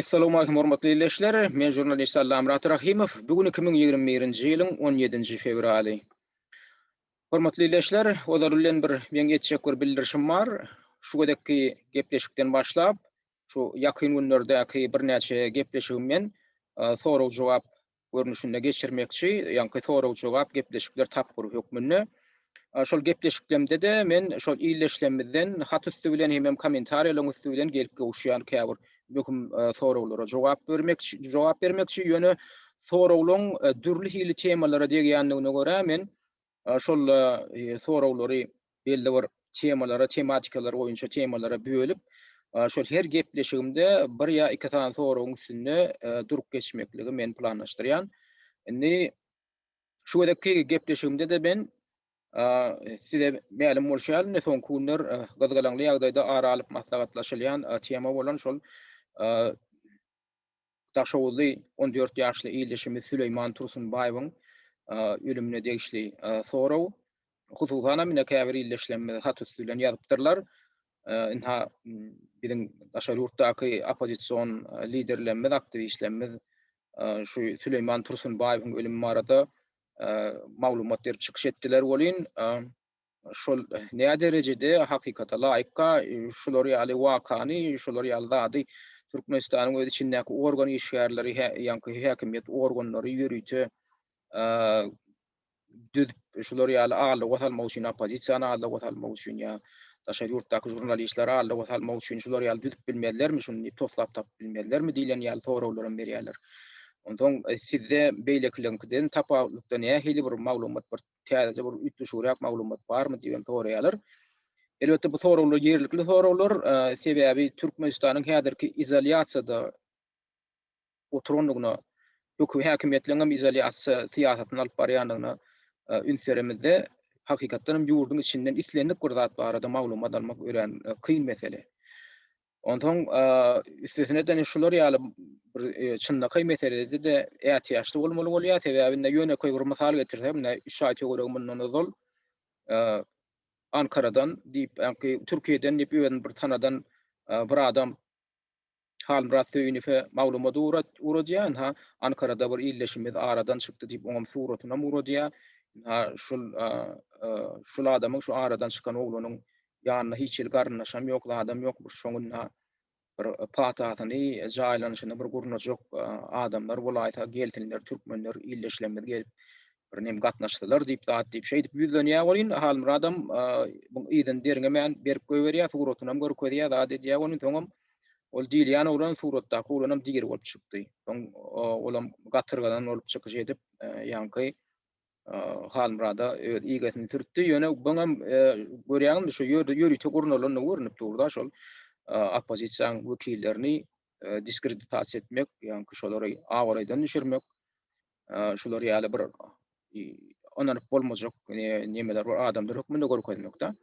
Essalamualeýkum hormatly ildeşler, men žurnalist Allamyrat Rahymow, bu gün iki müň ýigrimi birinji ýylyň on ýedinji fewraly. Hormatly ildeşler, ozal bilen bir meň etjek bir bildirişim bar, şu gezekki gepleşikden başlap, şu ýakyn günlerdäki birnäçe gepleşigim men sorag-jogap görnüşinde geçirmekçi, ýaňky sorag-jogap gepleşikler tapgyry hökmünde. Şol gepleşiklemde-de men şol illeşlemizden hat üsti bilen hemem kommentariýalaryň üsti bilen gelip gowuşýan käbir möhüm soraglara jogap bermekçi, jogap bermekçi, ýöne soraglaryň dürli hili temalara degýändigine görä men Şol soraglary belli bir temalara, tematikalar boýunça temalara bölüp, şol her gepleşigimde bir ýa iki sany soragyň üstünde durup geçmekligi men planlaşdyrýan. Indi şu gezekki gepleşigimde-de men size mälim bolşy ýaly, soňky günler gyzgalaňly ýagdaýda ara alyp maslahatlaşylýan tema bolan şol Daşoguzly on dört ýaşly ildeşimiz Süleýman Tursunbaýewiň ölümine degişli sorag, hususanam ine käbir ildeşlerimiz hat üsti bilen ýazypdyrlar. Ynha, biziň daşary ýurtdaky oppozision liderlerimiz, aktiwistlerimiz şu Süleýman Tursunbaýewiň ölümi barada maglumat berip çykyş etdiler welin, şol näde derejede hakykata laýykka şular ýaly wakany, şular ýaly zady Türkmenistanyň öz içindäki organ işgärleri, ýaňky häkimiýet organlary ýörite düzüp, şular ýaly aldawa salmak üçin, oppozisiýany aldawa salmak üçin ýa daşary ýurtdaky žurnalistleri aldawa salmak üçin şular ýaly düzüp bilmezlermi, şuny diýip toslap tapyp bilmezlermi diýlen ýaly soraglar hem berýärler. Onsoň sizde beýlekileriňkiden tapawutlykda nähili bir maglumat, bir täzeje bir üýtgeşigräk maglumat barmy diýip hem soraýarlar. Elbetde bu soraglar ýerlikli soraglar, sebäbi Türkmenistanyň häzirki izolýasiýada oturandygyna, hökümet häkimiýetleriň hem izolýasiýa syýasatyny alyp barýandygyna üns beremizde, hakykatdan hem ýurduň içinden islendik bir zat barada maglumat almak örän kyn mesele. Onsoň üstesine de şular ýaly bir çynlakaý meselede-de ätiýaçly bolmaly bolýar, sebäbi indi ýönekeý bir mysal getirsem, indi üç aý töweregi mundan ozal Ankaradan diýip, ýagny Türkiýeden diýip özüni bir tanadan bir adam Halmyrat Söýünowe maglumat ugradýar, ynha Ankarada bir ildeşimiz aradan çykdy diýip, oňam suratyny ugradýar. Ynha şul şul adamyň şu aradan çykan oglanyň Ýanynda hiç hili garyndaşam ýok, zadam ýokmuş. Şoňunda bir patasyny, jaýlanyşyny bir gurnajak adamlar bolaýsa, gelsinler, türkmenler, ildeşlerimiz gelip, bir nem gatnaşsalar diýip, zat diýip, şeýdip ýüzlenýär welin, Halmyradam muň yzyny derňemän berip goýberýär, suratynam görkezýär, zat edýär welin, soňam ol diýilýän oglan suratdaky oglanam diri bolup çykdy. Soň olam gatyrgadan bolup çykyş edip, ýaňky Halmyrada öz igesini sürtdi. Ýöne buňam görýäňizmi şu ýerde ýörite gurnalandygy görnüp durda şol oppozisiýanyň wekillerini diskreditasiýa etmek, ýagny şolary abraýdan düşürmek, şular ýaly bir ynanyp bolmajak nemeler bar adamlar hökmünde görkezmekde.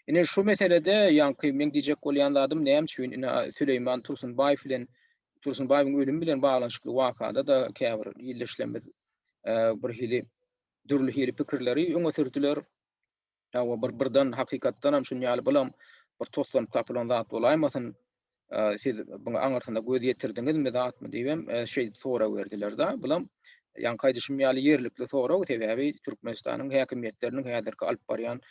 Ine şu meselede ýaňky men diýjek bolýan zadym näme üçin ine Süleýman Tursunbaýew bilen Tursunbaýewiň ölümi bilen baglanyşykly wakada da käbir ildeşlerimiz bir hili dürli hili pikirleri öňe sürdüler. Hawa bir birden hakykatdan hem şun ýaly bulam bir toslanyp tapylan zat bolaýmasyn. Siz buňa aňyrsyna göz ýetirdiňizmi zatmy diýip hem şeý sorag berdiler-de. Bulam ýaňky aýdyşym ýaly ýerlikli sorag, sebäbi Türkmenistanyň häkimiýetleriniň häzirki alyp barýan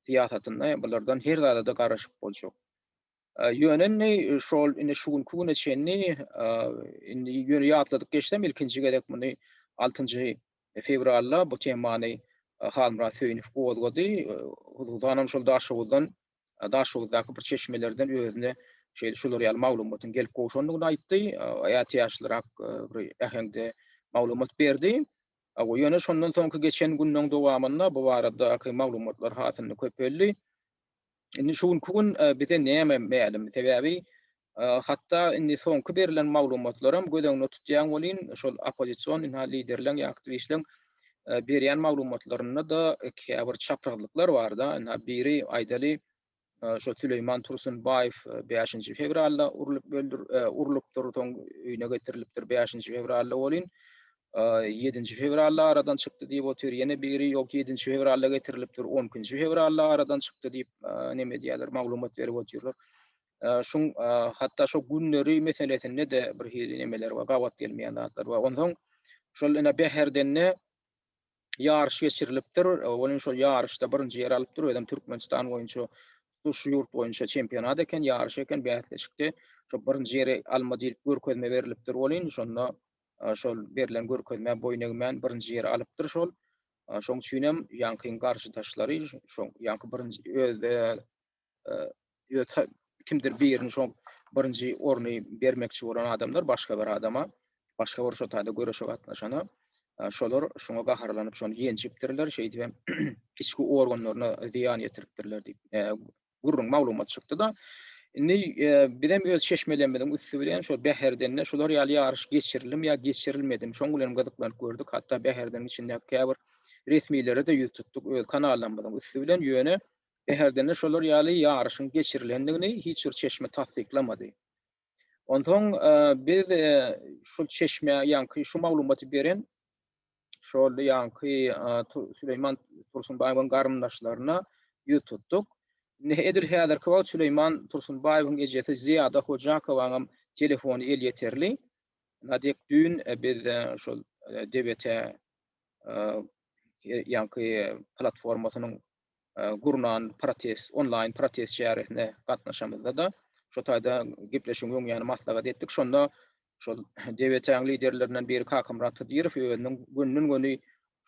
syýasatynda bulardan her zada-da garaşyp boljak. Ýöne indi şol indi şu günki güne çenli indi ýöne ýatladyp geçsem ilkinji gezek muny altynjy fewralda bu temany Halmyrat Söýünow gozgady. Huzuzanam şol Daşoguzdan Daşoguzdaky bir çeşmelerden özüne şeýle şular ýaly maglumatyň gelip gowşandygyny aýtdy. Ätiýaçlyrak bir äheňde maglumat berdi. Ýöne şondan soňky geçen günleň dowamynda bu baradaky maglumatlar hasynda köpeldi. Indi şu günki gün bize näme mälim? Sebäbi hatda indi soňky berilen maglumatlaram göz öňünde tutýan welin, şol oppozision ynha liderleň ýa aktiwistleň berýän maglumatlarynda-da käbir çaprazlyklar bar-da. Ynha biri aýdaly, şo Süleýman Tursunbaýew bäşinji fewralda urlup öldür, urlupdyr, soň öýüne getirilipdir bäşinji fewralda welin, ýedinji fewralda aradan çykdy diýip otyr, ýene biri ýok ýedinji fewralda getirilipdir, on ikinji fewralda aradan çykdy diýip neme diýýärler maglumat berip otyrlar. Şuň hatda şu günleri meselesinde de bir hili nemeler bar, gabat gelmeýän zatlar bar. Onsoň şol ene Bäherdende ýaryş geçirilipdir, onuň şol ýaryşda birinji ýeri alypdyr, özem Türkmenistan boýunça şu ýurt boýunça çempionat eken, ýaryş eken, bäsleşikde şo birinji ýeri alma diýip görkezme berlipdir welin, şonda Şol berlen görkezmä boýun egmän birinji ýeri alypdyr şol. Şoň üçinem ýaňkyň garşydaşlary şo ýaňky birinji özde kimdir birini şo birinji orny bermekçi bolan adamlar başga bir adama, başga bir şotada göreşe gatnaşana şolar şoňa gaharlanyp şony ýenjipdirler, şeýdibem içki organlaryna zyýan ýetiripdirler diýip, gürrüň maglumat çykdy-da, indi bizem öz çeşmelerimiziň üsti bilen şol Bäherdende şular ýaly ýaryş geçirildim ýa geçirilmedimi, şoň bilenem gyzyklanyp gördük, hatda Bäherdeniň içindäki käbir resmilere-de ýüz tutduk öz kanallarymyzyň üsti bilen, ýöne Bäherdende şolar ýaly ýaryşyň geçirilendigini hiç bir çeşme tassyklamady. Onsoň biz şol çeşmä ýaňky şu maglumaty beren şol ýaňky Süleýman Tursunbaýewiň garyndaşlaryna ýüz tutduk. Edil häzirki wagt Süleýman Tursunbaýewiň ejesi Zyýada Hojakowanyňam telefony elýeterli. Nadek düýn biz şol DBT ýaňky platformasynyň gurnan protest, onlaýn protest çäresine gatnaşamyzda-da, şo taýda gepleşigiň öň ýany maslahat etdik. Şonda şol DWT-niň liderlerinden biri Kakamyrat Hydyrow özüniň gönden-göni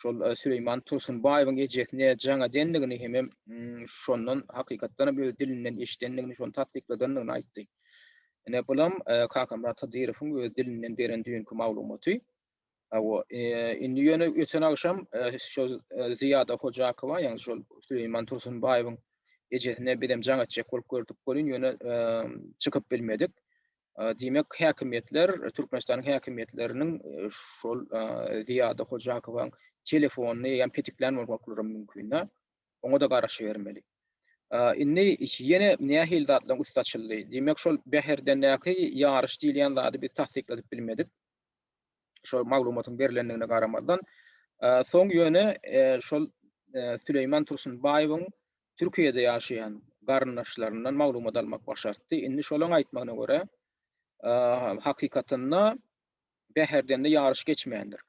şol Süleýman Tursunbaýewiň ejesine jaň edendigini hemem şondan hakykatdan hem öz dilinden eşidendigini, şony tassykladandygyny aýtdy. Ine, bulam Kakamyrat Hydyrowyň öz dilinden beren düýnki maglumaty. Hawa, indi ýöne öten agşam şol Zyýada Hojakowa, ýagny şol Süleýman Tursunbaýewiň ejesine bizem jaň etjek bolup gördük welin, ýöne çykyp bilmedik. Diýmek, häkimiýetler, Türkmenistanyň häkimiýetleriniň şol Zyýada Hojakowaň telefonyny ýa petiklän bolmaklary mümkin-dä. Oňa-da garaşybermeli. Indi ýene nähili zatlaryň üsti açyldy? Diýmek, şol Bäherdendäki ýaryş diýilýän zady biz tassykladyp bilmedik. şol maglumatyň berilendigine garamazdan, soň ýöne şol Süleýman Tursunbaýewiň Türkiýede ýaşaýan garyndaşlaryndan maglumat almak başartdy. Indi şolaň aýtmagyna görä, hakykatynda Bäherdende ýaryş geçmändir.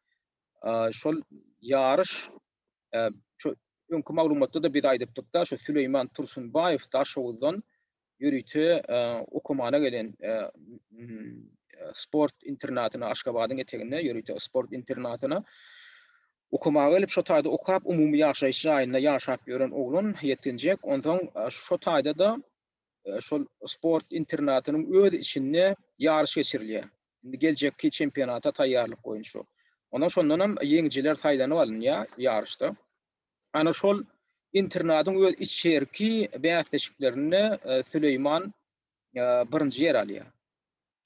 Şol ýaryş öňki maglumatda-da biz aýdypdyk-da, şu Süleýman Tursunbaýew Daşoguzdan Ýörite okumana gelen sport internatyna Aşgabadyň eteginde ýörite sport internatyna okamaga gelip şo taýda okap umumy ýaşaýyş jaýynda ýaşap ýören oglan ýetginjek onsoň şo taýda-da şol sport internatynyň öz içinde ýaryş geçirilýär. Indi geljekki çempionata taýýarlyk boýunça. Ondan şondanam ýeňijiler saýlanyp alynýar ýaryşda. Ana şol internadyň öz içerki bäsleşiklerinde Süleýman birinji ýer alýar.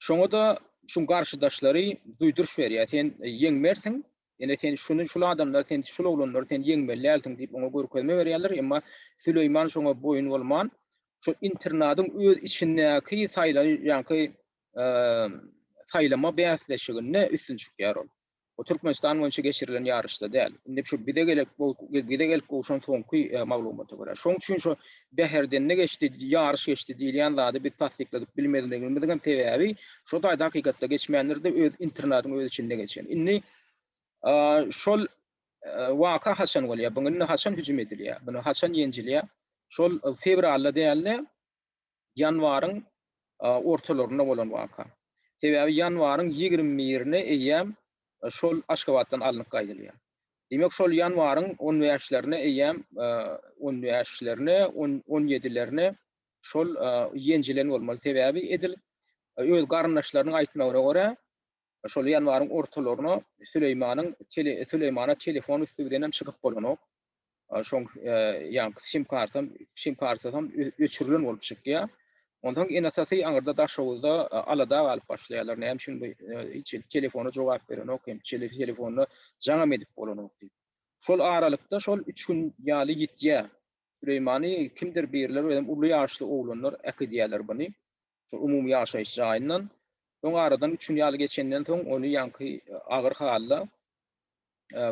Şoňa-da şuň garşydaşlary duýduryş berýär, sen ýeňmersiň, ýene sen şuny, şul adamlary, sen şul oglanlary sen ýeňmeli dälsiň diýip oňa görkezme berýärler, emma Süleýman şoňa boýun bolman, şu internadyň öz içindäki saýlan ýaňky saýlama bäsleşiginde üstün çykýar ol. Bu Türkmenistan boýunça geçirilen ýaryşda däl. Indi şu bize gelip bize gelip gowşan soňky maglumata görä. Şoň üçin şu Bäherdende geçdi, ýaryş geçdi diýilýän zady biz tassykladyp bilmezligimiziň hem sebäbi şo taýda hakykatda geçmändir-de, öz internatyň öz içinde geçen. Indi şol waka haçan bolýar? Buňa indi haçan hüjüm edilýär? Buna haçan ýenjilýär? Şol fewralda däl-de, ýanwaryň ortalarynda bolan waka. Sebäbi ýanwaryň ýigrimi birine eýýäm şol Aşgabatdan alnyp gaýdylýar. Diýmek, şol ýanwaryň on bäşlerine eýýäm, on bäşlerine, on ýedilerine şol ýenjilen bolmaly. Sebäbi edil öz garyndaşlarynyň aýtmagyna görä, Şol ýanwaryň ortalaryna Süleýmanyň Süleýmana telefon üsti bilen hem çykyp bolanok. Şoň ýa sim kartam, sim karty hem öçürilen bolup çykýar. Onsoň ene-atasy aňyrda Daşoguzda alada galyp başlaýarlar. Näme üçin bu hiç telefona jogap berenok hem telefona jaňam edip bolanok diýip. Şol aralykda şol üç gün ýaly ýitýär. Süleýmany kimdir birler özem uly ýaşly oglanlar äkidýärler buny. Şol umumy ýaşaýyş jaýyndan. Soň aradan üç gün ýaly geçenden soň ony ýaňky agyr halda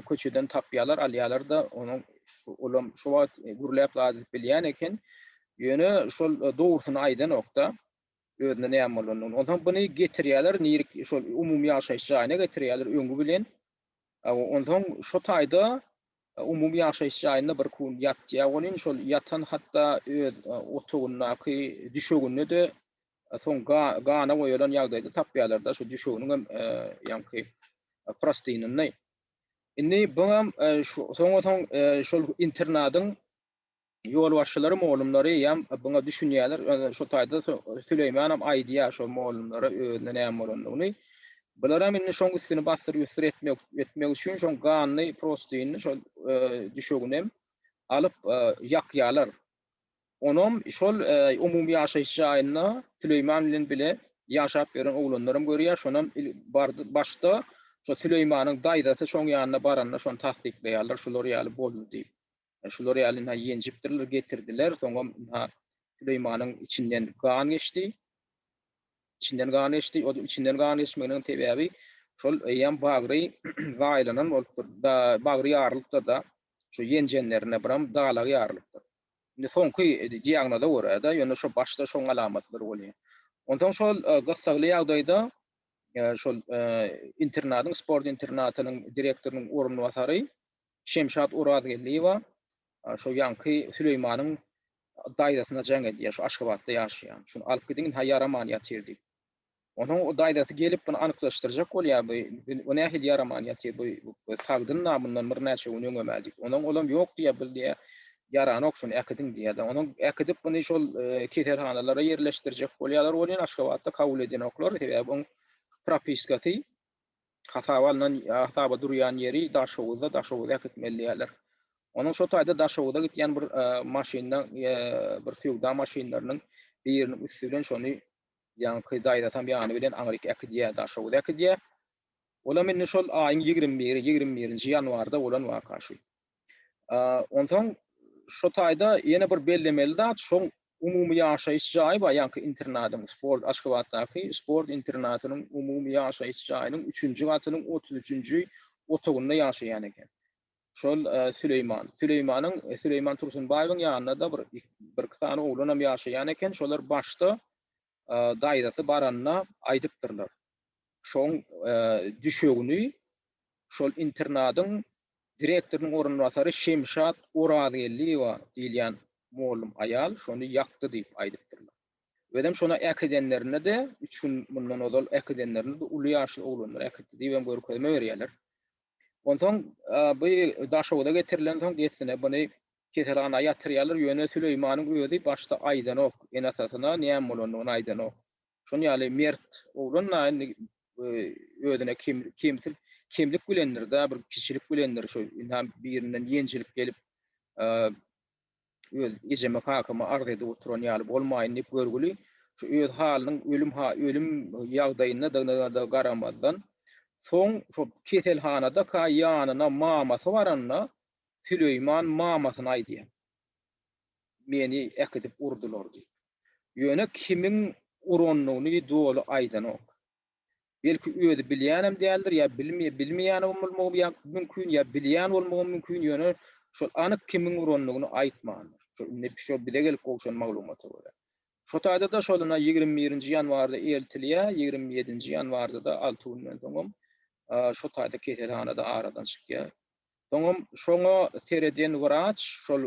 köçeden tapýarlar, alýarlar-da, onuň olam şo wagt gürläp zat edip bilýän eken. Ýöne şol dogrusyny aýdanok-da, özüne näme bolandygyny. Onsoň buny getirýärler, nirek şol umumy ýaşaýyş jaýyna getirýärler, öňi bilen Onsoň şo taýda umumy ýaşaýyş jaýynda bir kun ýatýar welin, şol ýatan hatda öz otagyndaky düşeginde-de soň gana boýalan ýagdaýda tapýarlar-da, şo düşeginiň hem ýaňky prostynynda. Indi buňam soňa soň şol internadyň Ýolbaşçylary molumlary ýam buňa düşünýäler. Ýöne şo taýda Süleýmanam aýdýar şo molumlara özüne näme bolandygyny. Bularam indi şoň üstüni bassyr-güssyr etmek etmek üçin şoň ganyny prostyny şol düşeginem alyp ýakýalar. Onam şol umumy ýaşaýyş jaýynda Süleýman bilen bile ýaşap ýören oglanlaram görýär. Şonam il bardy başda şo Süleýmanyň daýzasy şoň ýanyna baranda şony tassyklaýarlar şular ýaly boldy diýip. Şular ýaly ynha ýenjipdirler, getirdiler. Soňam ynha Süleýmanyň içinden gan geçdi. Içinden gan geçdi. O içinden gan geçmeginiň sebäbi şol eýýäm bagry zaýalanan bolupdyr. Da bagry ýarylypdyr-da. Şu ýenjenlerine biram dalagy ýarylypdyr. Indi soňky diagnoza görä-de, ýöne şu başda şoň alamatlary bolýar. Onsoň şol gyssagly ýagdaýda şol internatyň, sport internatynyň direktorynyň orunbasary Şemşat Orazgeldiýewa şo ýaňky Süleýmanyň daýzasyna jaň edýär, şo Aşgabatda ýaşaýan. Şuny alyp gidiň, ha ýaraman ýatyr diýip. Onuň o daýzasy gelip buny anyklaşdyrjak bolýar, bu bu nähili ýaraman ýatyr, bu bu sagdyn-la mundan bir näçe gün öňem-ä diýip. Onuň olam ýok diýýär, bu diýýär, ýaranok şuny äkidiň diýýärler. Onuň äkidip muny şol keselhanalara ýerleşdirjek bolýarlar welin Aşgabatda kabul edenoklar, sebäbi oň propiskasy Hasaba alnan, hasaba durýan ýeri Daşoguzda, Daşoguza äkitmeli diýýärler. Onuň şo taýda Daşoguza gitýän bir maşynyna, bir söwda maşynlarynyň biriniň üsti bilen şony ýaňky daýzasam ýany bilen aňryk äkidýär, Daşoguza äkidýär. Olam indi şol aýyň ýigrimi biri, ýigrimi birinji ýanwarda bolan waka şu. Onsoň şu taýda ýene bir bellemeli zat, şu umumy ýaşaýyş jaýy bar, ýaňky internadyň, sport Aşgabatdaky sport internatynyň umumy ýaşaýyş jaýynyň üçünji gatynyň otuz üçünji otagynda ýaşaýan eken. Şol Süleýman. Süleýmanyň, Süleýman Tursunbaýewiň ýanynda-da bir, birki sany oglanam ýaşaýan eken. Şolar başda daýzasy baranda aýdypdyrlar. Şoň düşegini şol internadyň direktorynyň orunbasary Şemşat Orazgeldiýewa diýilýän mollum aýal şony ýakdy diýip aýdypdyrlar. Özem şony äkidenlerinde-de, üç gün mundan ozal äkidenlerinde-de uly ýaşly oglanlar äkitdi diýibem görkezme berýärler. Onsoň bu Daşoguza getirilensoň dessine buny Keselhana ýatyrýarlar, ýöne Süleýmanyň özi başda aýdanok, ene-atasyna näme bolandygyny aýdanok. Şonuň ýaly mert oglan-da indi özüne kemtir, kemlik bilendir-dä, bir kiçilik bilendir, şu ynha birinden ýenjilip gelip, öz ejeme, kakama arz edip oturan ýaly bolmaýyn diýip görgüli, şu öz halynyň ölüm ölüm ýagdaýyndadygyna-da garamazdan, soň şo keselhanadaka ýanyna mamasy baranda, Süleýman mamasyna aýdýar. Meni äkidip urdular diýip. Ýöne kimiň uranyny doly aýdanok. Belki özi bilýänem däldir ýa bilmeýänem bolmagym ýa mümkin ýa bilýän bolmagym mümkin ýöne şol anyk kimiň uranyny aýtmandyr. Şo indi şo bize gelip gowşan maglumata görä. Şo taýda-da şoluna ýigrimi birinji ýanwarda eltilýär, ýigrimi ýedinji ýanwarda-da alty günden soňam şo taýda keselhanada aradan çykýar. Soňam şoňa sereden wraç şol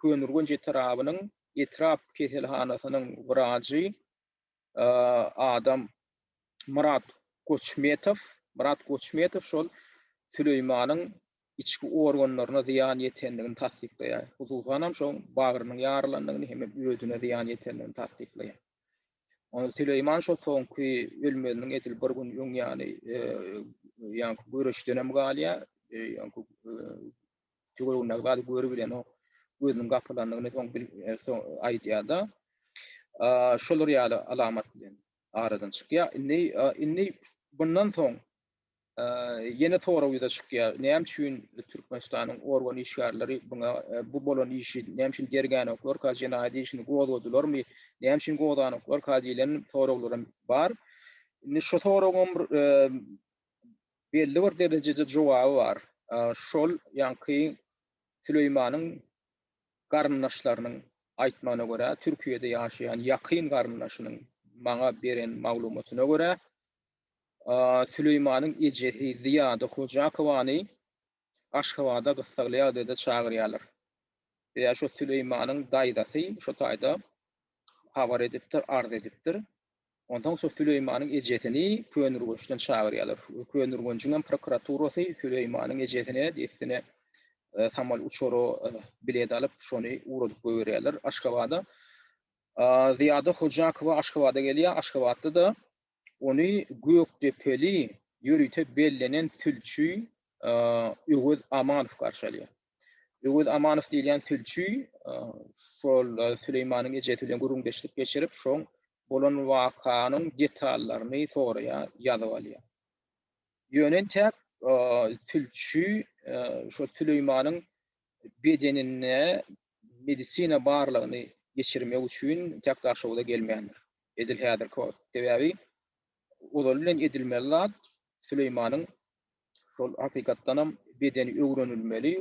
Köneürgenç etrabynyň etrap keselhanasynyň wrajy adam Myrat Goçmetow, Myrat Goçmetow şol Süleýmanyň içki organlaryna zyýan ýetendigini tassyklaýar. Hususanam şoň bagrynyň ýaralandygyny hemem özüne zyýan ýetendigini tassyklaýar. Süleýman şo soňky ölmeziniň edil bir gün öň ýany ýaňky göreşden hem galýar. Ýaňky tüweginde zady görüp bilenok. Gözüniň gapylandygyny soň bil aýdýar-da. Şolar ýaly alamat bilen aradan çykýar. Indi indi bundan soň Ýene sorag ýüze çykýar. Näme üçin Türkmenistanyň organ işgärleri buna bu bolan işi näme üçin dergänoklar, ka jenaýat işini gozgadylarmy, näme üçin gozganoklar ka diýlen soraglarym bar. Indi şu soragyň belli bir derejede jogaby bar. Şol ýaňky Süleýmanyň garyndaşlarynyň aýtmagyna görä, Türkiýede ýaşaýan ýakyn garyndaşynyň maňa beren maglumatyna görä, Süleýmanyň ejesi Zyýada Hojakowany Aşgabada gyssagly ýagdaýda çagyrýarlar. Ýa şo Süleýmanyň daýzasy şo taýda habar edipdir, arz edipdir. Onsoň şo Süleýmanyň ejesini Könürgençden çagyrýarlar. Könürgenjiň hem prokuraturasy Süleýmanyň ejesine dessine samal uçara bilet alyp, şony ugradyp goýberýärler Aşgabada. Zyýada Hojakowa Aşgabada gelýär. Aşgabatda-da Ony gökdepeli, ýörite bellenen sülçi Öwez Amanow garşy alýar. Öwez Amanow diýilýän sülçi şol Süleýmanyň ejesi bilen gürrüňdeşlik geçirip, şoň bolan wakanyň detallaryny soraýar, ýazyp alýar. Ýöne entäk sülçi şo Süleýmanyň bedeninde medisina barlagyny geçirmek üçin entäk Daşoguza gelmändir. Edil häzirki wagt. Sebäbi ozaly bilen edilmeli zat Süleýmanyň şol hakykatdanam bedeni öwrenilmeli,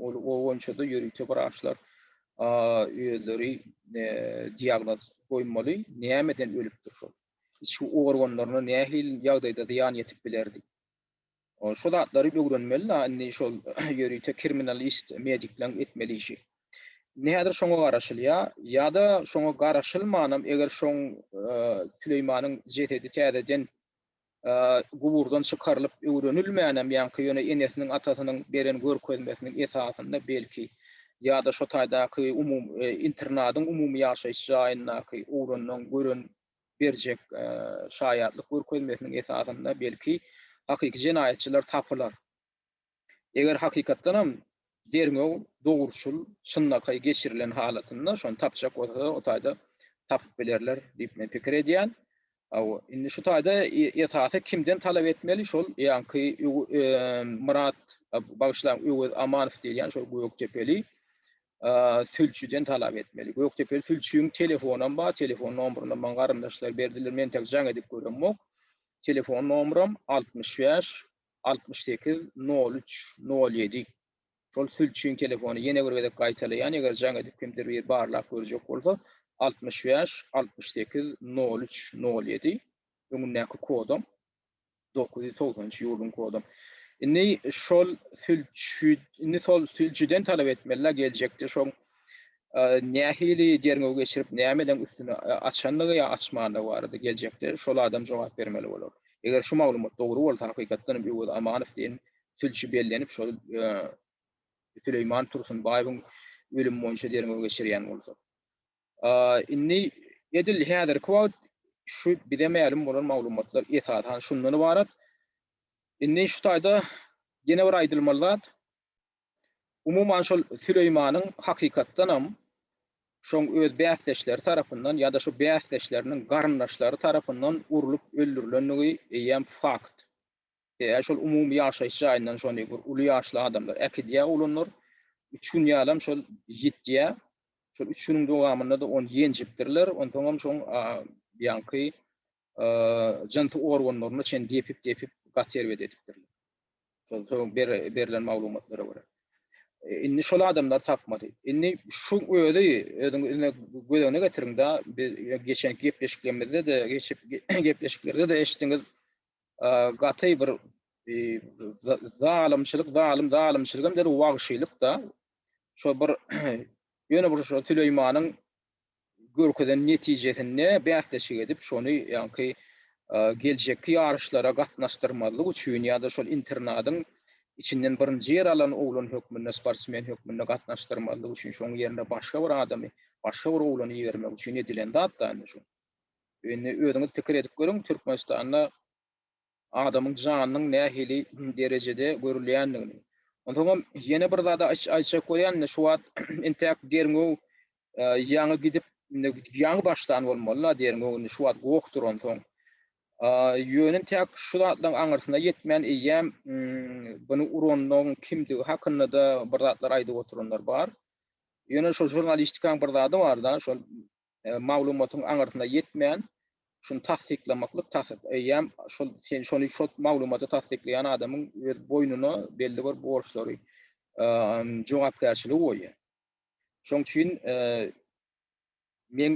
ol o boýunça-da ýörite wraçlar özleri diagnoz goýmaly, nämeden ölüpdir şol? Içki organlaryna nähili ýagdaýda zyýan ýetip bilerdi? Ol şo zatlary ögrenmeli da indi şol ýörite kriminalist medikleriň etmeli işi. Indi häzir şoňa garaşylýa, ýa-da şoňa garaşylmanam eger şoň Süleýmanyň jesedi täzeden guburdan çykarylyp öwrenilmänem ýaňky ýöne enesiniň atasynyň beren görkezmesiniň esasynda belki ýa-da şo taýdaky umumy internadyň umumy ýaşaýyş jaýyndaky ugrandan gören berjek şaýatlyk görkezmesiniň esasynda belki hakyky jenaýatçylar tapylar. Eger hakykatdanam derňew dogruçyl, çynlakaý geçirilen halatynda şony tapjak bolsalar o taýda tapyp bilerler diýip men pikir edýän. Hawa, indi şu taýda esasy kimden talap etmeli şol ýaňky Myrat, bagyşlaň Öwez Amanow diýilýän şol gökdepeli sülçüden talap etmeli. Gökdepeli sülçüň telefonam bar, telefon nomerynam maň garyndaşlar berdiler, men tak jaň edip göremok. Telefon nomeram altmyş bäş, altmyş sekiz, nol üç, nol ýedi. Şol sülçüň telefony ýene bir gezek gaýtalaýan, eger jaň edip kimdir biri barlap görjek bolsa, altmyş bäş, altmyş sekiz, nol üç, nol ýedi. Öňündäki kodam. dokuz ýüz togsan üç ýurduň kodam. Indi şol sülçi, indi şol sülçüden talap etmeli, geljekde şoň nähili derňew geçirip, nämeden üstüni açandygy ýa açmandygy barada geljekde şol adam jogap bermeli bolar. Eger şu maglumat dogry bolsa, hakykatdan hem Öwez Amanow diýen sülçi bellenip, şol Süleýman Tursunbaýewiň ölümi boýunça derňew geçirýän bolsa. Indi edil häzirki wagt şu bize mälim bolan maglumatlar esasan şundan ybarat. Indi şu taýda ýene bir aýdylmaly zat, umuman şol Süleýmanyň hakykatdanam şoň öz bäsdeşleri tarapyndan ýa-da şu bäsdeşleriniň garyndaşlary tarapyndan urlup öldürilendigi eýýäm fakt. Eee şol umumy ýaşaýyş jaýyndan şony bir uly ýaşly adamlar äkidýä oglanlar üç gün ýalam şol ýitýä şol üç günüň dowamynda-da ony ýenjipdirler onsoňam şoň ýaňky jynsy organlaryna çen depip depip gaty erbet edipdirler şol soň berilen maglumatlara görä indi şol adamlar tapmady indi şu özi özüňize gözegine getiriňda biz geçenki gepleşiklerimizde-de geçip gepleşiklerde-de eşitdiňiz gaty bir zalymçylyk, zalym zalymçylyk hem däl, wagşylyk-da. Şo bir ýöne bir şo Süleýmanyň görkezen netijesinde bäsleşik edip, şony ýaňky geljekki ýaryşlara gatnaşdyrmazlyk üçin ýa-da şol internadyň içinden birinji ýer alan oglan hökmünde, sportsmen hökmünde gatnaşdyrmazlyk üçin, şoň ýerine başga bir adamy, başga bir oglany ibermek üçin edilen zat-da indi şu. Indi özüňiz pikir edip görüň, Türkmenistanda adamyň janynyň nähili derejede görülýändigini. Onsoňam ýene bir zady aýtjak bolýan, indi şu wagt intäk derňew ýaňy gidip, ýaňy başlan bolmaly-la derňew, indi şu wagt goh duransoň. Ýöne intäk şu zatlaryň aňyrsyna ýetmän eýýäm buny uranyň kimdigi hakynda-da bir zatlar aýdyp oturanlar bar. Ýöne şol žurnalistikaň bir zady bar-da, şol maglumatyň aňyrsyna ýetmän, şuny tassyklamaklyk takyk. Eýýäm şol sen şony şo maglumaty tassyklaýan adamyň öz boýnuna belli bir borçlary, jogapkärçiligi goýýar. Şoň üçin men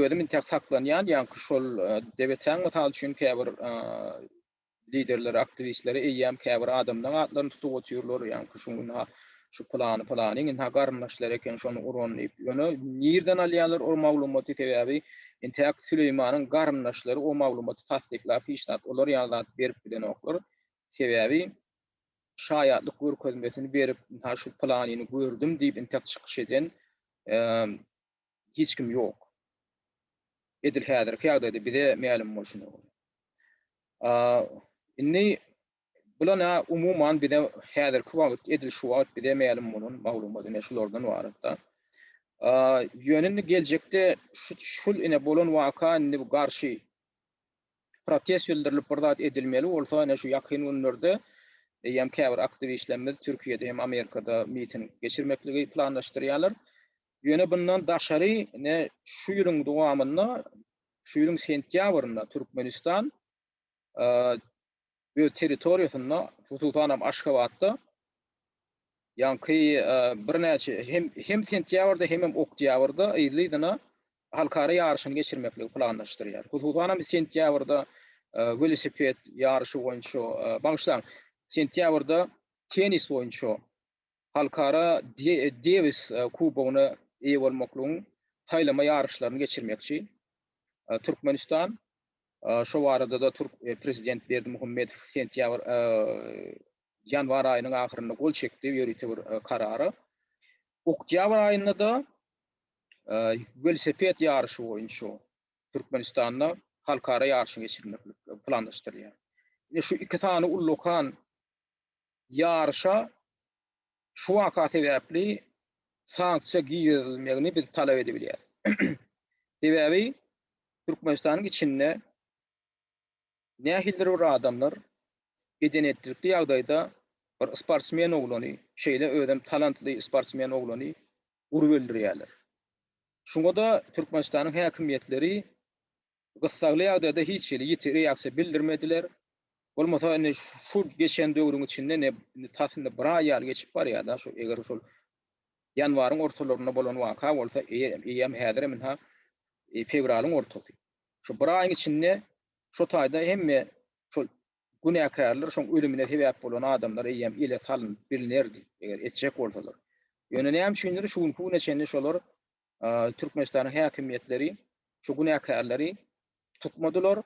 özüm intäk saklanýan, ýaňky şol debetäň mysal üçin käbir Liderleri, aktiwistleri eýýäm käbir adamlaň atlaryny tutup otyrlar, ýagny küşüň ynha şu pylany pylany ynha garyndaşlary eken şony uran diýip. Ýöne nirden alýarlar ol maglumaty sebäbi intäk Süleýmanyň garyndaşlary o maglumaty tassyklap hiç zat olar ýaly zat berip bilenoklar. Sebäbi şaýatlyk görkezmesini berip ynha şu pylanyny gördüm diýip intäk çykyş eden hiç kim ýok. Edil häzirki ýagdaýda bize mälim bolşuna görä. A, indi bulan-a umuman bize häzirki wagt, edil şu wagt bize mälim bolan maglumat ine şulardan ybarat-da. A, ýöne indi geljekde şu, şul ine bolan waka indi bu garşy protest bildirilip bir zat edilmeli bolsa ine şu ýakyn günlerde eýýäm käbir aktiwistlerimiz Türkiýede hem Amerikada miting geçirmekligi planlaşdyrýarlar. Ýöne bundan daşary ne şu ýylyň dowamynda, şu ýylyň sentýabrynda Türkmenistan öz territoriýasynda, hususan hem Aşgabatda ýaňky birnäçe hem sentýabrda, hemem oktýabrda yzly-yzyna halkara ýaryşyny geçirmekligi planlaşdyrýar. Hususan hem sentýabrda welosiped ýaryşy boýunça, bagyşlaň, sentýabrda tennis boýunça Halkara Dewis kubogyna eýe bolmaklygyň saýlama ýaryşlaryny geçirmekçi. Türkmenistan şo barada-da türk prezident Berdimuhamedow sentýabr ýanwar aýynyň ahyrynda gol çekdi ýörite bir karara. Oktýabr aýynda-da welosiped ýaryşy boýunça Türkmenistanda halkara ýaryşyny geçirmeklik planlaşdyrylýar. Ine şu iki sany ullakan Ýaryşa şu waka sebäpli sanksiýa girizilmegini biz talap edebilýäris. Sebäbi Türkmenistanyň içinde nähilidir bir adamlar bedenetlikli ýagdaýda bir sportsmen oglany, şeýle özem talantly sportsmen oglany urup öldürýärler. Şuňa-da Türkmenistanyň häkimiýetleri Gyssagly ýagdaýda hiç hili ýiti reaksiýa bildirmediler. Bolmasa indi şu geçen döwrüň içinde ne indi tas indi bir aý ýaly geçip barýar-da şu eger şol ýanwaryň ortalarynda bolan waka bolsa eýýäm häzirem ynha fewralyň ortasy. Şu bir aýyň içinde şu taýda hemme şol günäkärler şoň ölümine sebäp bolan adamlar eýýäm ele salnyp bilnerdi eger etjek bolsalar. Ýöne näme üçindir şu günki güne çenli şolar Türkmenistanyň häkimiýetleri şu günäkärleri tutmadylar,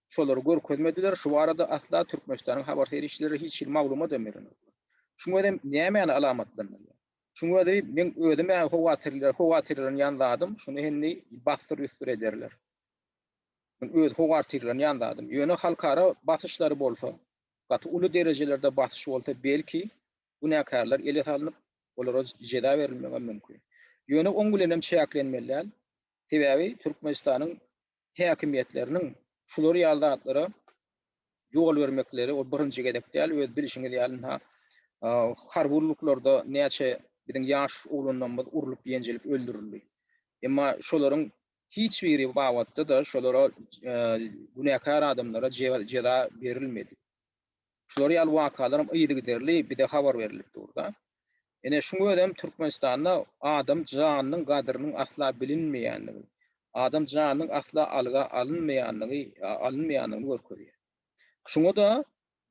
şolary görkezmediler, şu barada asla Türkmenistanyň habar serişdeleri hiç hili maglumadam berenoklar. Şuň özem nämäni alamatlandyrýar? Şuň özi meň özüm-ä howatyrlanýan zadym, şuny indi bassyr-üsdür ederler. Muny öz howartyrlanýan zadym. Ýöne halkara basyşlary bolsa, gaty uly derejelerde basyş bolsa, belki, günäkärler ele salnyp, olara jeza berilmegem mümkin. Ýöne oň bilenem çäklenmeli däl, sebäbi Türkmenistanyň häkimiýetleriniň şular ýaly zatlara ýol bermekleri ol birinji gezek däl, öz bilişiňiz ýaly ynha harby gulluklarda näçe biziň ýaş oglanlarymyz urlup-ýenjilip öldürildi. Emma şolaryň hiç biri babatda-da şolara günäkär adamlara jeza berilmedi. Şular ýaly wakalaram yzygiderli bize habar berilip dur-da. Ine, şuň özem Türkmenistanda adam janynyň gadyrynyň asla bilinmeýänligi, adam janynyň asla alga alynmaýanlygy, alynmaýanlygyny görkezýär. Şuňa-da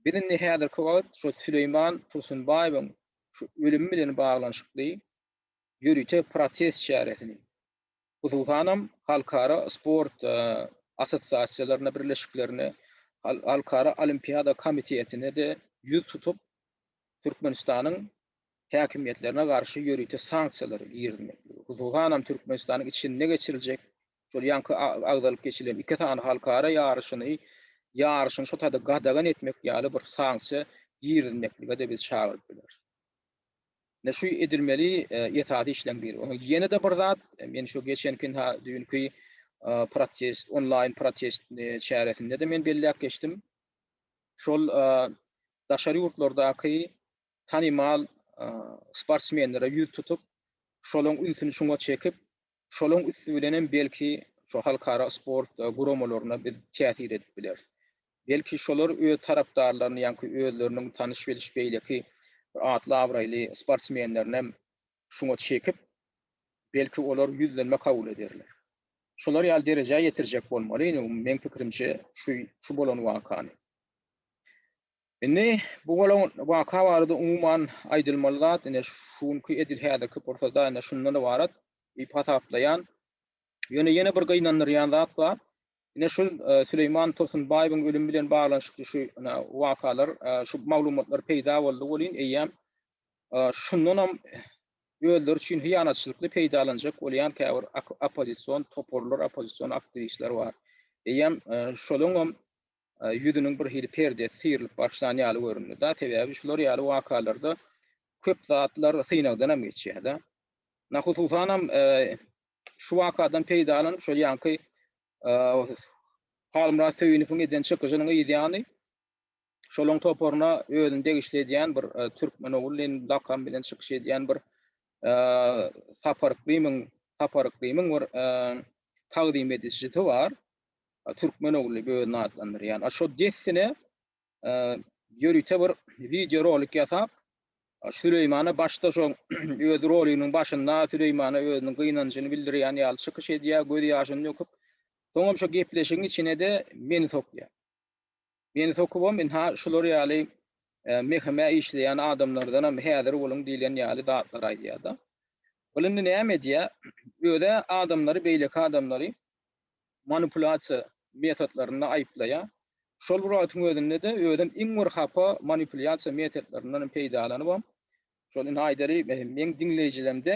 biz indi häzirki wagt şol Süleýman Tursunbaýewiň şu ölümi bilen baglanyşykly ýörite protest çäresini, hususanam halkara sport assosiasiýalaryna, birleşiklerine, Halkara Olimpiada komitetine-de ýüz tutup, Türkmenistanyň häkimiýetlerine garşy ýörite sanksiýalar girizmeklige, hususanam Türkmenistanyň içinde geçiriljek şol ýaňky agzalyp geçilen iki sany halkara ýaryşyny, ýaryşyny şo taýda gadagan etmek ýaly bir sanksiýa girizmeklige-de biz çagyryp bileris. Ine şu edilmeli esasy işleň biri. Onuň ýene-de bir zat, men şu geçenki ha düýnki protest, onlaýn protest çäresinde-de men belläp geçdim. Şol daşary ýurtlardaky tanymal sportsmenlere ýüz tutup, şolaň ünsüni şuňa çekip, Şolaň üsti bilenem belki şu halkara sport guramalaryna biz täsir edip bileris. Belki şolar öz tarapdarlaryny ýaňky özleriniň tanyş-biliş beýleki bir atly-abraýly sportsmenlerinem şuňa çekip, belki olar ýüzlenme kabul ederler. Şolar ýaly derejä ýetirjek bolmaly, indi meň pikirimçe şu şu bolan wakany. Indi bu bolan waka barada umuman aýdylmaly zat ine şu günki edil häzirki pursada ine şundan ybarat diýip hasaplaýan. Ýöne ýene bir gynandyrýan zat bar. Ine şu Süleýman Tursunbaýewiň ölümi bilen baglanyşykly şu ine wakalar şu maglumatlar peýda boldy welin eýýäm şundanam özleri üçin hyýanatçylykly peýdalanjak bolýan käbir oppozision toparlar, oppozision aktiwistler bar. Eýýäm şolaňam ýüzüniň bir hili perdesi syrylyp başlan ýaly göründi-da, sebäbi şular ýaly wakalarda köp zatlar synagdanam geçýär-de. Na hususanam şu wakadan peýdalanyp şol ýaňky Halmyrat Söýünowyň eden çykyşynyň yzýany şolaň toparyna özüni degişli edýän bir Türkmen ogul diýen lakam bilen çykyş edýän bir Sapar Yklymyň Sapar Yklymyň bir tagzym edijisi bar. Türkmen ogly özüni atlandyrýan. Şo dessine ýörite bir wideo rolik ýasap, Süleýmana başda şo öz roliginiň başynda Süleýmana özüniň gynanjyny bildirýän ýaly çykyş edýär, göz ýaşyny döküp, soňam şo gepleşigiň içine-de meni sokýar. Meni sokubam ynha şular ýaly mehemä işleýän adamlardanam häzir boluň diýlen ýaly zatlar aýdýar-da. Ol indi näme edýär? Öz-ä adamlary beýleki adamlary manipulýasiýa metodlarynda aýyplaýar. Şol bir wagtyň özünde-de özem iň bir hapa manipulýasiýa metodlaryndan peýdalanybam, şol indi aýdary meň diňleýjilerimde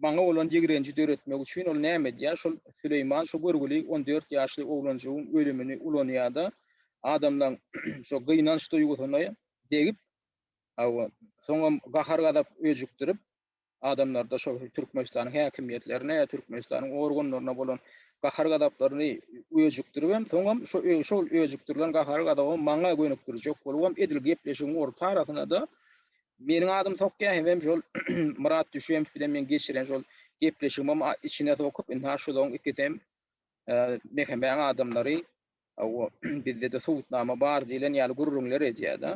maňa bolan ýigrenji döretmek üçin ol näme edýär, şol Süleýman şu görgüli on dört ýaşly oglanjygyň ölümini ulanýar-da, adamlaryň şo gynanç duýgusyny degip, hawa, soňam gahar-gazap öjükdirip, Adamlarda şol Türkmenistanyň häkimiýetlerine, Türkmenistanyň organlaryna bolan gahar-gazaplaryny öjükdirip hem, soňam şo-şol öjükdirilen gahary-gazaby maňa gönükdirjek bolup hem edil gepleşigiň orta arasyna-da meniň adym sokýar hemem şol Myrat Düşeýew bilen meň geçiren şol gepleşigimem içine sokup, indi ha şolaryň ikisi hem Mehemäň adamlary, hawa, bizde-de subutnama bar diýlen ýaly gürrüňler edýär-de.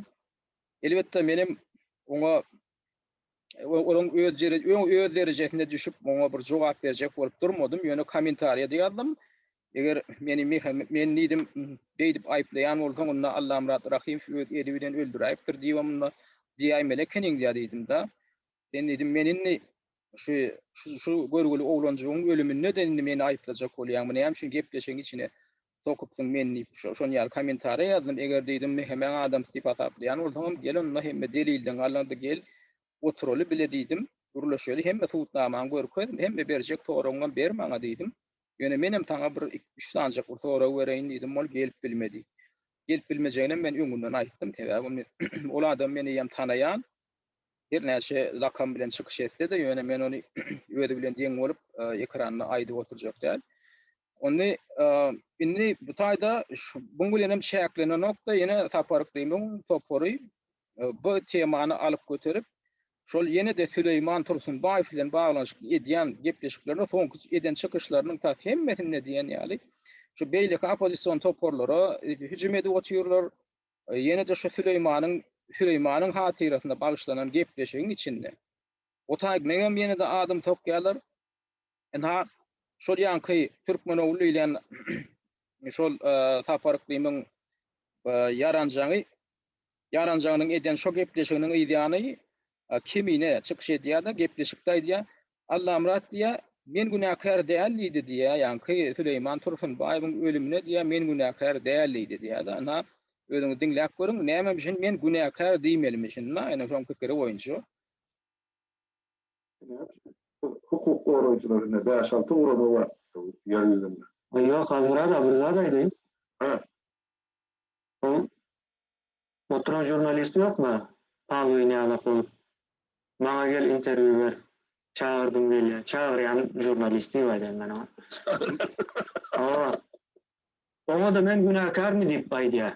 Elbetde, menem oňa onuň öz öz derejesinde düşüp, oňa bir jogap berjek bolup durmadym, ýöne kommentariýada ýazdym. Eger meni men diýdim, beýdip aýyplaýan bolsaň, onda Allamyrat Rahymow öz eli bilen öldüräýipdir diýibem onda diýäýmeli ekeniň-dä diýdim-de. Sen diýdim, men indi şu şu görgüli oglanjygyň ölüminde-de indi meni aýyplajak bolýaňmy, näme üçin gepleşigiň içine Sokupsyň men diýip şon ýaly komentariýa ýazdym eger diýdim hemäň adamsy diýip hasaplaýan bolsaňam gel onda hemme delilden galanda gel oturaly bile diýdim gürleşeli hemme subutnamaňy görkez hemme berjek soragyňam ber maňa diýdim ýöne menem saňa bir iki üç sanjak bir sorag bereýin diýdim ol gelip bilmedi gelip bilmejeginem men öňünden aýtdym sebäbi ol adam meni hem tanaýan her näçe lakam bilen çykyş etse-de ýöne men ony özi bilen deň bolup ekranda aýdyp oturjak däl Ony indi bu taýda buň bilen hem çäklenenok-da, ýene Sapar Krymyň topary bu temany alyp göterip, şol ýene-de Süleýman Tursunbaýew bilen baglanyşykly edýän gepleşiklerinde soňky eden çykyşlarynyň tas hemmesinde diýen ýaly şu beýleki oppozision toparlara hüjüm edip otyrlar. Ýene-de şu Süleýmanyň Süleýmanyň hatyrasyna bagyşlanan gepleşigiň içinde o taý meňem ýene-de adymy sokýarlar. Ynha, şol ýaňky Türkmenogly diýlen şol Sapar Yklymyň ýaranjaňy, ýaranjaňynyň eden şo gepleşiginiň yzýany Kemine çykyş edýär-de, gepleşikde aýdýar, Allamyrat diýýär, Men günäkär däl diýdi diýýär, ýaňky Süleýman Tursunbaýewiň ölümine diýýär, Men günäkär däl diýdi diýýär-de, ynha, özüňiz diňläp görüň, näme üçin men günäkär diýmelimişin, ynha, ýene şoň pikiri boýunça. Hukuk goraýjylar indi bäş-alty gurama bar ýer ýüzünde. Ýok, Halmyrat aga, bir zat aýdaýyn. Hä? Ol oturan žurnalist ýokmy, palwyn ýalak bolup, Maňa gel interwýu ber, çagyrdym gelýär, çagyrýan žurnalist diýip aýdaýyn men oňa. Hawa. Oňa-da men günäkärmi diýip aýdýar.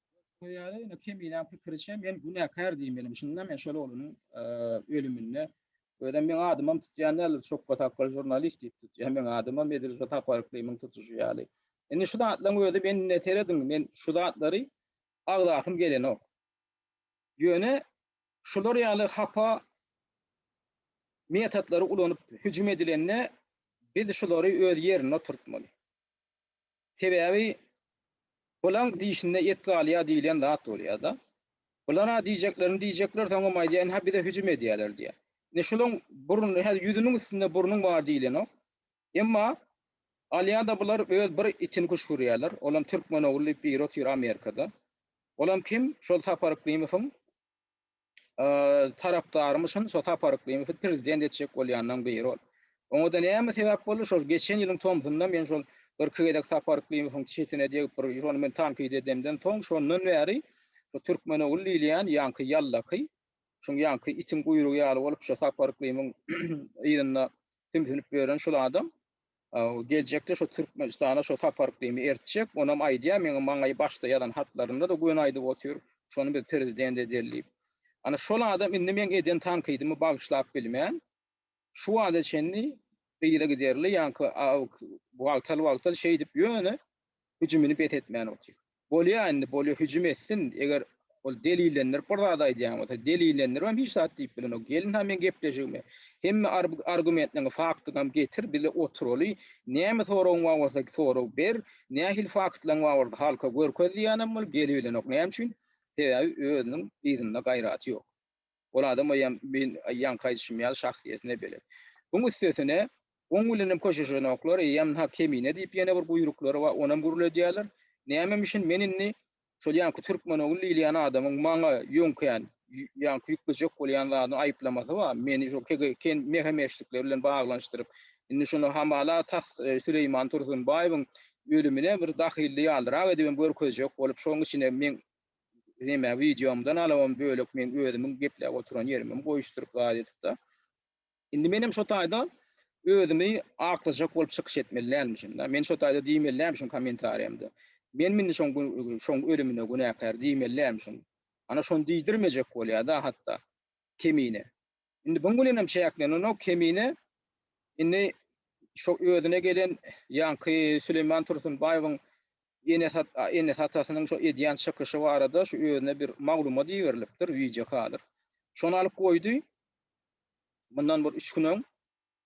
Görşüňiz ýaly, indi Kemiläň pikiriçe, men günäkär diýmelim. Şunda men şol oglumyň ölüminde Özem meň adymam tutýan däldir, çokga tapgal žurnalist diýip tutýar. Meň adymam edil şu taparyklynyň tutuşy ýaly. Indi şu zatlaryň özi men indi serediň, men şu zatlary agzasym gelenok. Ýöne şular ýaly hapa metodlary ulanyp hüjüm edilende biz şulary öz ýerinde oturtmaly. Sebäbi Bulaň dişinde et galýar diýilýän zat bolýar-da. Bular-a diýjeklerini diýjekler, soňam aýdýar, Ine-hä bize hüjüm edýärler diýýär. Ine şulaň burny, hä ýüzüniň üstünde burnuň bar diýilenok. Emma alýar-da bular öz bir itini küşgürýärler. Olam Türkmenogly diýip biri otyr Amerikada. Olam kim? Şol Sapar Yklimowyň tarapdarym üçin şo Sapar Yklymowy prezident etjek bolýanlaň biri ol. Oňa-da näme sebäp boldy? Şol geçen ýylyň tomsunda men şol birki gezek Sapar Yklymowyň çetine degip bir şony men tankyt edemden soň şondan bäri bu türkmen ogul diýilýän ýaňky ýallaky şuň ýaňky itiň guýrugy ýaly bolup şo Sapar Yklymyň yzynda sümsünip ýören şul adam Geljekde şo Türkmenistana şo sapar gymy ertjek, onam aýdýar meň maňa başda ýazan hatlarynda-da göni aýdyp otyr, şony biz prezident edeli diýip. Ana şol adam indi meň eden tankydymy bagyşlap bilmän, şu wagta çenli yza giderli ýaňky wagtal-wagtal şeýdip ýöne hüjümini bes etmän otyr. Bolýa indi bolýa hüjüm etsin eger ol delillendirip bir zat aýdýan bolsa delillendiribem hiç zat diýip bilenok gelin ha meň gepleşigimi hemme argumentleňi faktyňam getir bile oturaly näme soragyň bar bolsa sorag ber nähili faktlaň bar bolsa halka görkez diýýänem ol gelibilenok näme üçin sebäbi özüniň yzynda gaýraty ýok. Ol adam eýýäm men ýaňky aýdyşym ýaly şahsyýetine belet. Buň üstesine, oň bilenem köşeşenoklar, eýýäm nha kemine diýip ýene bir guýruklary bar, onam gürledýärler. Nämemişin men indi şol ýaňky türkmenogly diýilýän adamyň maňa ýöňkän, ýaňky ýüklejek bolýan zadyny aýyplamasy bar, meni şo kegen mehe-meşlikler bilen baglanyşdyryp, indi şuny hamala tas Süleýman Tursunbaýewiň ölümine bir dahylly ýalyrak edibem görkezjek bolup, şoň üçinem men neme wideomdan alabam bölek men özümiň gepläp oturan ýerimem goýuşdyryp zat edipda. Indi menem şo taýda özümi aklyjak bolup çykyş etmeli dälmişimda. Men şo taýda diýmeli dälmişim kommentariýamda. Menmi indi şoň şoň ölümine günäkär diýmeli dälmişim. Ana şony diýdirmejek bolýada hatda kemine. Indi buň bilenem çäklenenok Kemine indi şo özüne gelen ýaňky Süleýman Tursunbaýewiň enesi atasynyň şo edýän çykyşy barada şu özüne bir maglumat iberilipdir wideo kadr. Şony alyp goýdy mundan bir üç gün öň.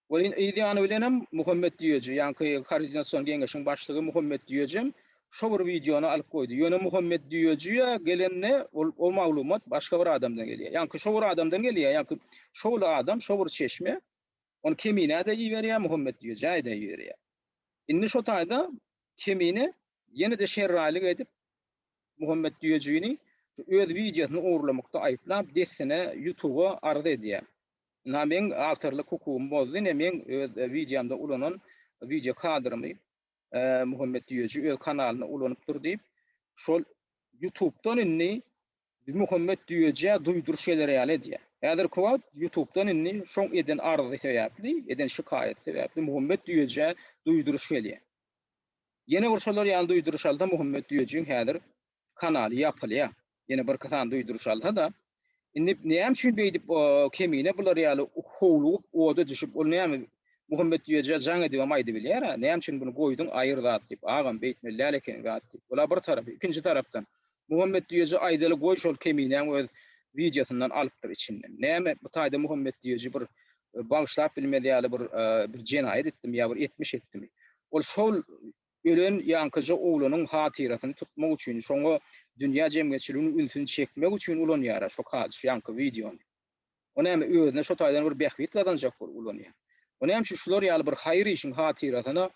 Oýun yz ýany bilenem Muhammet Düýeji, ýaňky Koordinasion geňeşiň başlygy Muhammet Düýejem şo bir wideony alyp goýdy. Ýöne Muhammet Düýejiä gelende ol o maglumat başga bir adamdan gelýär. Ýaňky şo bir adamdan gelýär, ýaňky şo bir adam, şo bir çeşme ony Keminä-de iberýär, Muhammet Düýejä-de iberýär. Indi şo taýda Kemine ýene-de şerraýlyk edip, Muhammet Düýejini şu öz wideosyny ogurlamakda aýyplap, dessine Ýutuba arz edýär. Na meň awtorlyk hukugymy bozdy, ne meň öz wideomda ulanan wideo kadrymy Muhammet Düýeji öz kanalynda ulanypdyr diýip, şol Ýutubdan indi Muhammet Düýejä duýduryş eder ýaly edýär. Häzirki wagt Ýutubdan indi şoň eden arzy sebäpli, eden şikaýaty sebäpli Muhammet Düýejä duýduryş gelýär. Ýene bir şolar ýaly duýduryş alsa Muhammet Düýejiň häzir kanaly ýapylýa ýene birki sany duýduryş alsada indi näme üçin beýdip o kemine bular ýaly howlugyp oda düşüp ol näme Muhammetdüýeje jaň edibem aýdybilýärä näme üçin buny goýduň aýyr zat diýip agam beýtmeli däl ekeni zat diýip ula bir tarapy ikinji tarapdan Muhammetdüýeje aýdaly goý şol keminäň öz wideosyndan alypdyr içinden näme bu taýda Muhammetdüýeji bir bagyşlap bilmez ýaly bir bir jenaýat etdimi ýa bir etmiş etdimi ol şol Ölen ýaňkyja oglunyň hatyrasyny tutmak üçin, şoňa dünýä jemgyýetçiliginiň ünsüni çekmek üçin ulanýara şo kac ýaňky wideony. O näme özüne şo taýdan bir bähbit gazanjak bolup ulanýa. O näme üçin şular ýaly bir haýyr işiň hatyrasyna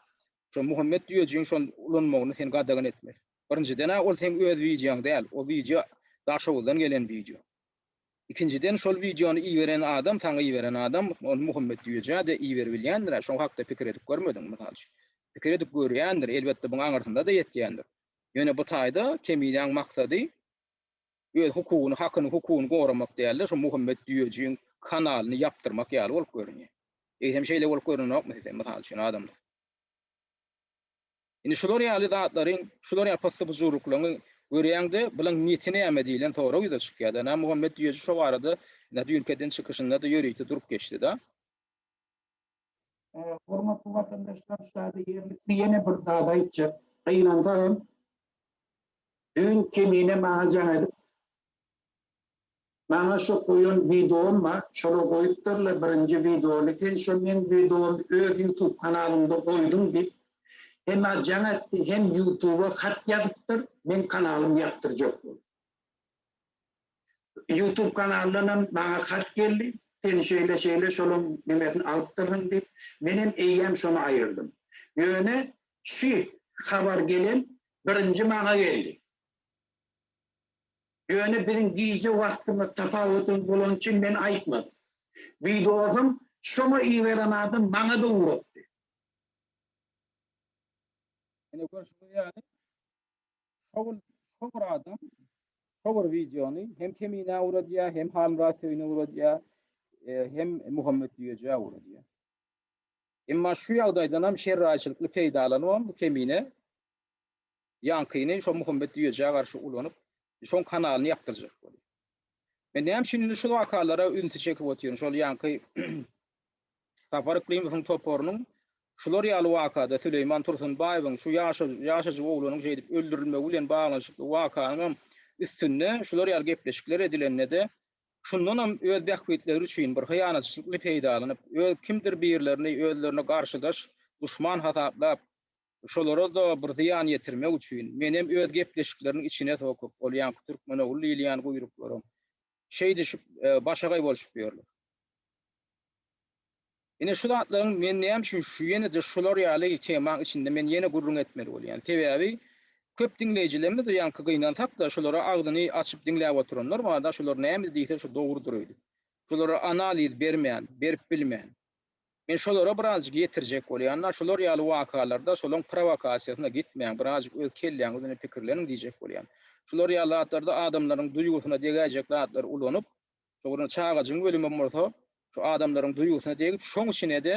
şo Muhammet düýejigiň şony ulanmagyny sen gadagan etmeli. Birinjiden-ä ol seň öz wideoň däl, o wideo Daşoguzdan gelen wideo. Ikinjiden şol wideony iberen adam saňa iberen adam ol Muhammet Jüýejä-de iberibilýändirä şo hakda pikir edip görmediňmi mysal üçin? Pikir edip görýändir elbetde buň aňyrsyna-da ýetýändir. Ýöne bu taýda Kemilýaň maksady öz hukugyny hakyny hukugyny goramak däl-de şo Muhammet Jüýejiň kanalyny ýapdyrmak ýaly bolup görünýär. Eýsem şeýle bolup görünenokmy size mysal üçin adamlar? Indi şular ýaly zatlaryň, şular ýaly pyssy-pyjurlyklaryňy görýäň-de, bulaň niýeti näme diýlen sorag ýüze çykýar-da. Nämuhammet düýeji şo barada ine düýnki eden çykyşynda-da ýörite durup geçdi-de. Hormatly watandaşlar, şada ýerlikli ýene bir zat aýtjak. Gynansagam, düýn Kemine maňa jaň edip, Maňa şo goýan wideom bar şola goýupdyrlar birinji wideony sen şo meň wideomy öz ýutub kanalyňda goýduň diýip hemä jaň etdi hem ýutuba hat ýazypdyr meň kanalym ýapdyrjak bolup. Ýutub kanaldanam maňa hat geldi sen şeýle şeýle şolaň nimesini alypdyrsyň diýip menem eýýäm şony aýyrdym ýöne şü habar gelen birinji maňa geldi. Ýöne biziň gije wagtymyz tapawutymyz bolany üçin men aýtmadym. Wideosyň şoňa iberen adam maňa-da urupdy. Ine görşüňiz ýaly, şo gün şo bir adam şo bir wideony hem Keminä ugradýar, hem Halmyrat Söýüne ugradýar, hem Muhammet Düýejä ugradýar. Emma şu ýagdaýdanam şerraýçylykly peýdalanybam bu Kemine Ýaňkyny şo Muhammet Düýejä garşy ulanyp, şoň kanalyny ýapdyrjak bolup. Men näme üçin indi şul wakalara ünsi çekip otyryn, şol ýaňky Sapar Yklymowyň toparynyň şular ýaly wakada Süleýman Tursunbaýewiň şu ýaşajyk oglunyň şeýdip öldürilmegi bilen baglanyşykly wakanyňam üstünde şular ýaly gepleşikler edilende-de, şundanam öz bähbitleri üçin bir hyýanatçylykly peýdalanyp, öz kimdir birlerini özlerine garşydaş, duşman hasaplap, Şolara-da bir zyýan ýetirmek üçin, menem öz gepleşikleriniň içine sokup, ol ýaňky türkmenogul diýilýän guýruklaram şeýdişip başagaý bolşup ýörler. Ine şu zatlaryň men näme üçin şu ýene-de şular ýaly temaň içinde men ýene gürrüň etmeli bolýan sebäbi köp diňleýjilerimiz ýaňky gynansak-da şulara agzyny açyp diňläp oturanlar barda şular näme diýse şu dogrudyr öýdüp. Şulara analiz bermän, berip bilmän. Men şolara birazjyk ýetirjek bolýan-da, şular ýaly wakalarda şolaň prowokasiýasyna gitmäň, birazjyk öz kelläň üzüne pikirleniň diýjek bolýan. Şular ýaly zatlarda adamlaryň duýgusyna degäýjek zatlary ulanyp, şo bir çagajygyň ölümem bolsa, şu adamlaryň duýgusyna degip, şoň içine-de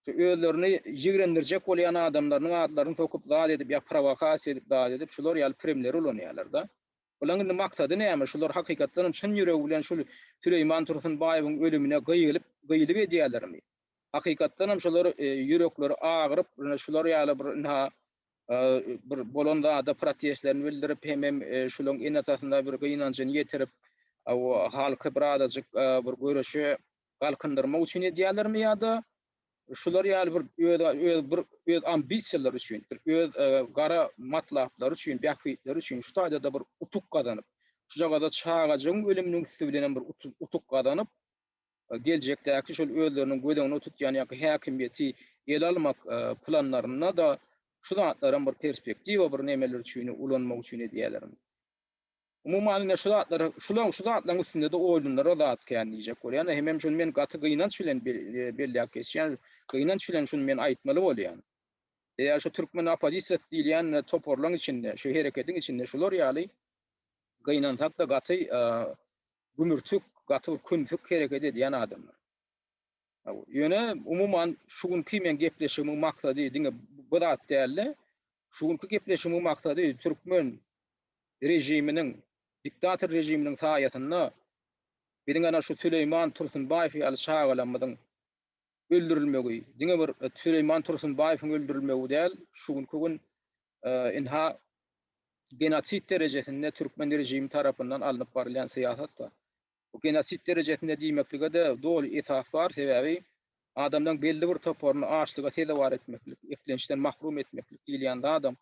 şu özlerini ýigrendirjek bolýan adamlarynyň adlaryny sokup zat edip ýa prowokasiýa edip zat edip, şular ýaly primleri ulanýarlar-da. Bulaň indi maksady näme? Şular hakykatdan hem çyn ýüregi bilen şul Süleýman Tursunbaýewiň ölümine gyýylyp, gyýylyk edýälermi? Hakykatdan hem şular ýürekleri agyryp, şular ýaly bir ynha bir bolan zada protestlerini bildirip, hemem şulaň ene-atasyna bir gynanjyny ýetirip, halky birazajyk bir göreşe galkyndyrmak üçin edýälermi ýa-da Şular ýaly bir öz bir öz ambisiýalary üçin, bir öz gara matlaplary üçin, bähbitleri üçin şu taýda-da bir utuk gazanyp, şujagaz-da çagajygyň ölüminiň üsti bilenem bir utuk gazanyp, geljekdäki şol özleriniň göz öňünde tutýan ýaňky häkimiýeti ele almak planlarynda-da şu zatlaram bir perspektiwa, bir nemeler üçin, ulanmak üçin edýälermi? Umuman men şu zatlara, şulaň, şu zatlaň üstünde-de oýlanara zat kän diýjek bolýan we hemem şuny men gaty gynanç bilen belläp geçýän, gynanç bilen şuny men aýtmaly bolýan. Eýer şu türkmen oppozisiýasy diýilýän toparlaň içinde, şu hereketiň içinde şular ýaly gynansakda gaty gümürtik, gaty bir kümsük hereket edýän adamlar. Ýöne umuman şu günki meň gepleşigimiň maksady diňe bu zat däldi. Şu günki gepleşigiň maksady türkmen režiminiň, diktator režiminiň saýasynda biziň ana şu Süleýman Tursunbaýew ýaly çagalarymyzyň öldürilmegi, diňe bir Süleýman Tursunbaýewiň öldürilmegi däl, şu günki gün ynha genosid derejesinde türkmen režimi tarapyndan alnyp barylýan syýasatdyr. Bu genosid derejesinde diýmeklige-de doly esas bar, sebäbi adamlaryň belli bir toparyny açlyga sezewar etmeklik, eklençden mahrum etmeklik diýilýän zadam,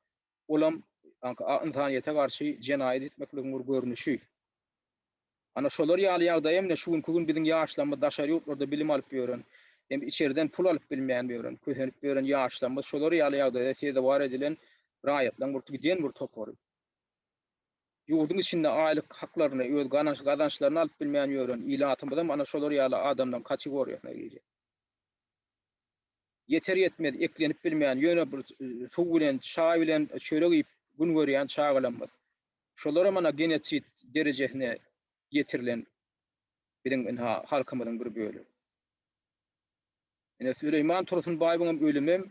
olam ynsanyýete garşy jenaýat etmekligiň bir görnüşi. Ana, şolar ýaly ýagdaý hem-de şu günki gün biziň ýaşlarymyz daşary ýurtlarda bilim alyp ýören, hem içerden pul alyp bilmän ýören, kösenip ýören ýaşlarymyz şolar ýaly ýagdaýda sezewar edilen raýatlaryň bir giden bir topary. Ýurduň içinde aýlyk haklaryny, öz gazançlaryny alyp bilmän ýören ilatymyzam ana şolar ýaly adamlaryň kategoriýasyna girýär. Ýeter-ýetmez eklenip bilmän, ýöne bir suw bilen, çaý bilen, çörek iýip gün görýän çagalamyz. Şolaram ana genotsid derejesine ýetirilen biziň ynha halkymyzyň bir bölegi. Ine Süleýman Tursunbaýewiňem ölümem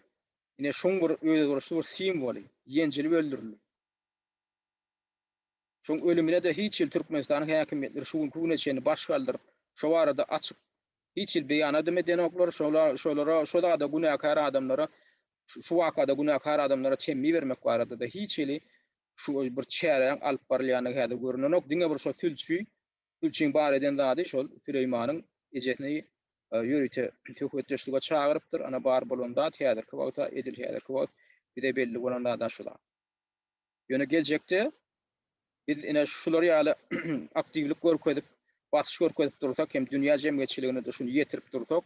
ine şuň bir özboluşly bir simwoly, ýenjilip öldürildi. Şoň ölümine-de hiç hili Türkmenistanyň häkimiýetleri şu günki güne çenli baş galdyryp, şo barada açyk hiç hili beýanadam edenoklar, şolara, şo zada günäkär adamlara, şu wakada günäkär adamlara temmi bermek barada-da hiç hili şu bir çäräň alyp barylýandygy häzir görünenok, diňe bir şo sülçi, sülçiň bar eden zady şol Süleýmanyň ejesini ýörite söhbetdeşlige çagyrypdyr, ana bar bolan zat häzirki wagta, edil häzirki wagt bize belli bolan zada şu zat. Ýöne geljekde biz ine şular ýaly aktiwlik görkezip, basyş görkezip dursak hem dünýä jemgyýetçiligine-de şuny ýetirip dursak,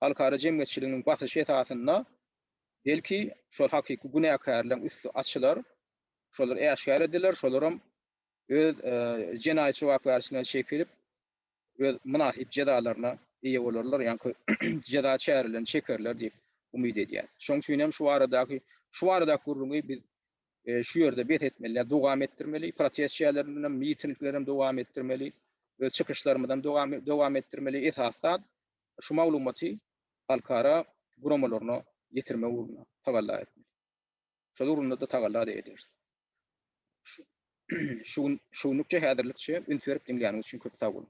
halkara jemgyýetçiliginiň basyşy esasynda belki şol hakyky günäkärleriň üsti açylar, şolar äşgär ediler, şolaram öz jenaýat jogapkärçiligine çekilip, öz mynasyp jezalaryna eýe bolarlar, ýaňky jeza çärelerini çekerler diýip umyt edýäris. Şonuň üçin hem şu baradaky şu baradaky gürrüňi biz şu ýerde bes etmeli, ýa dowam etdirmeli, protest çärelerimizi hem, mitingleri hem dowam etdirmeli, öz çykyşlarymyzy hem dowam etdirmeli, esasy zat şu maglumaty halkara guramalaryna ýetirmek ugrunda tagalla etmeli. Şol ugrunda-da tagalla-da ederis. Şu gün, şu günlükçe häzirlikçe üns berip diňläniniz üçin köp sag boluň.